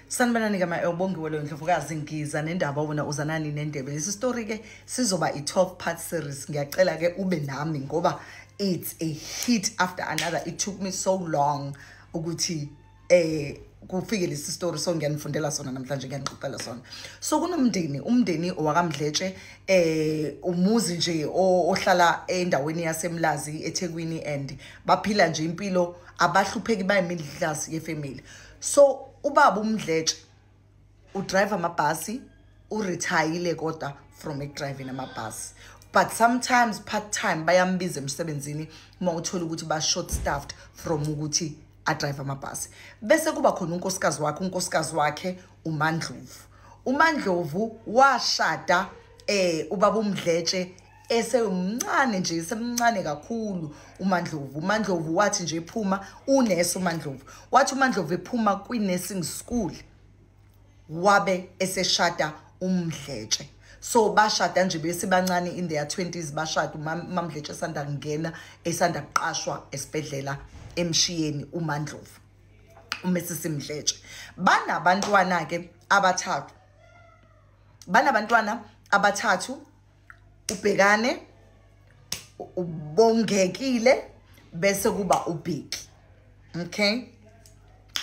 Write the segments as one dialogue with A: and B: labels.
A: sanibonani ke ma ubongiwe loyo ndlovukazi ngiza nendaba wena uzanani nendebe lesi story ke sizoba i-12 part series ngiyacela ke ube nami ngoba it's a hit after another it took me so long ukuthi eh kufike lesi story so ngiyanifundela sona namhlanje ngiyanixoxela sona so kunomndeni umndeni owakamdletshe eh umuzi nje ohlala endaweni yasemlazi ethekwini and baphila nje impilo abahlupheki bayimidlazi yefamily so ubaba umdletshe udrive amabhasi urithayile kodwa from ekudriving amabhasi but sometimes part time bayambiza emsebenzini uma uthola ukuthi ba-short staffed from ukuthi adrive amabhasi bese kuba khona unkosikazi wakhe unkosikazi wakhe umandlovu umandlovu washada um ubaba umdletshe esewumncane nje esemncane kakhulu uMandlovu uMandlovu wathi nje ephuma unesi uMandlovu wathi uMandlovu ephuma kwi-nursing school wabe eseshada umdletshe so bashada nje besibancane in their 20s bashada umamdletshe esanda kungena esanda kuqashwa esibhedlela emshiyeni uMandlovu uMrs Mdletshe banabantwana ke abathathu banabantwana abathathu ubhekane ubongekile bese kuba ubheki okay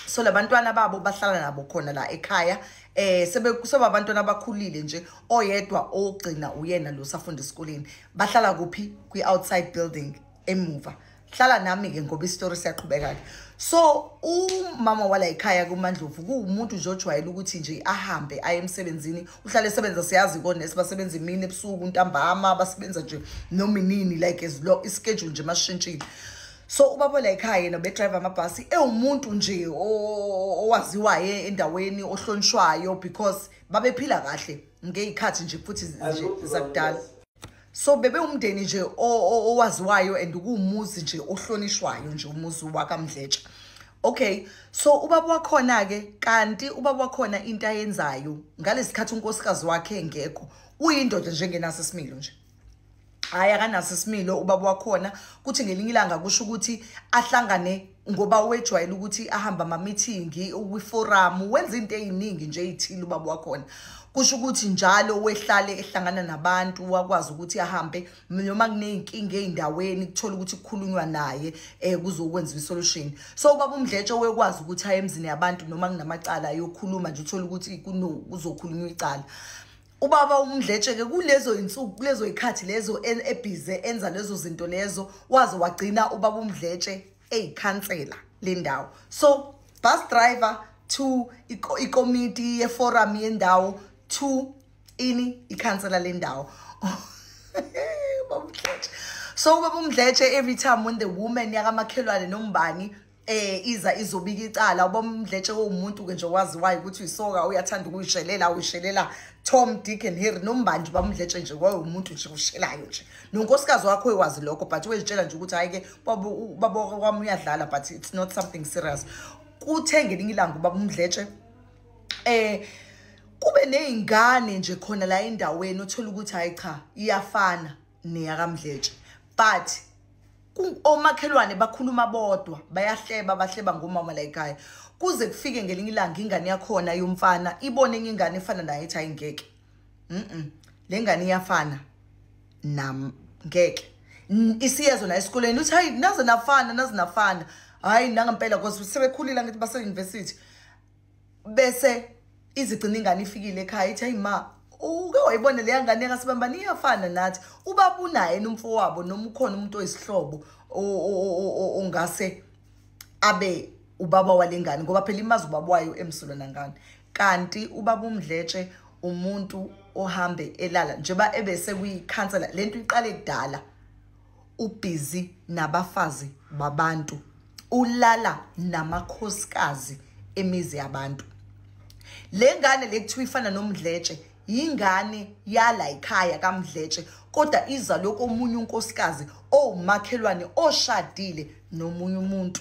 A: so labantwana babo bahlala nabo khona la ekhaya eh sebe kuseba abantwana abakhulile nje oyedwa ogcina uyena lo safunda esikoleni bahlala kuphi kwi outside building emuva hlala nami-ke ngoba isitori siyaqhubeka-ke so umama walayikhaya kumandlovu kuwumuntu nje ojwayele ukuthi nje ahambe aye emsebenzini uhlale esebenza siyazi konesi basebenza imini ebusuku ntambama basebenza nje noma inini like as lo ischedule nje masishintshile so ubaba layikhaya yena bedrive amabhasi ewumuntu nje owaziwayo endaweni ohlonishwayo because babephila kahle ngey'khathi nje futhi zakudala so bebe umndeni nje owaziwayo and kuwumuzi nje ohlonishwayo nje umuzi wakamdletsha okay so ubaba wakhona-ke kanti ubaba wakhona into ayenzayo ngalesikhathi unkosikazi wakhe engekho uyindoda njengenaso isimilo nje hhayi akanaso isimilo ubaba wakhona kuthi ngelinye ilanga kusho ukuthi ahlangane ngoba wejwayele ukuthi ahamba amamithingi ukwiforamu wenza into eyiningi nje eyithile ubaba wakhona kusho ukuthi njalo wehlale ehlangana nabantu wakwazi ukuthi ahambe noma kuney'nkinga ey'ndaweni kuthola ukuthi kukhulunywa naye um kuzokwenza i-solution so ubaba umdletshe wekwazi ukuthi aye emzini yabantu noma kunamacala ayokhuluma nje uthole ukuthi kuzokhulunywa icala ubaba umdletsheke kulezo insuku kulezo ikhathi lezo ebhize enza lezo zinto lezo waze wagcina ubaba umdletshe eyikhansela le ndawo so bus driver to ikomiti yeforum yendawo to ini ikhansela le ndawo so ubaba umdletshe every time when the woman yakamakhelwane nombani eh iza izobika icala ubomdletshe womuntu ke nje waziwayo ukuthi uyisoka uyathanda ukuyishelela uyishelela Tom Dick and Harry nombanje bamdletshe nje kwaye umuntu nje ushelayo nje nonkosikazi wakho ekwazi lokho but wezitshela nje ukuthi hayi ke baba baba kwami uyadlala but it's not something serious kuthe ngelinye ilanga ubaba umdletshe eh kube nezingane nje khona la endaweni uthola ukuthi hayi cha iyafana neyakamdletshe but omakhelwane bakhuluma bodwa bayahleba bahleba ngomama layikhaya kuze kufike ngelinye ilanga ingane yakhona yomfana ibone enye ingane efana naye ethi ayingeke mm le ngane iyafana nam ngeke isiyezo la esikoleni uthi hayi naze nafana naze nafana hayi nangempela because sebekhulile ngithi base-university bese izigcina ingane ifikile ekhaya ithi ayima uke wayibona leya ngane kasibambani iyafana nathi ubaba unaye nomfowabo noma ukhona umuntu oyisihlobo ongase abe ubaba walengane ngoba phela imazi ubaba wayo emsulwa nangane kanti ubaba umdletshe umuntu ohambe elala njengoba ebese kuyikhansela lento iqale kudala ubhizi nabafazi babantu ulala namakhosikazi emizi yabantu le ngane le kuthiwa ifana nomdletshe yingane yala ikhaya kamdletshe kodwa iza lokomunye unkosikazi owumakhelwane oshadile nomunye umuntu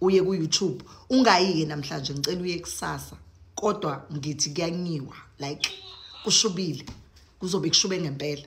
A: uye ku YouTube ungayike namhlanje ngicela uye kusasa kodwa ngithi kuyanyiwa like kushubile kuzobe kushube ngempela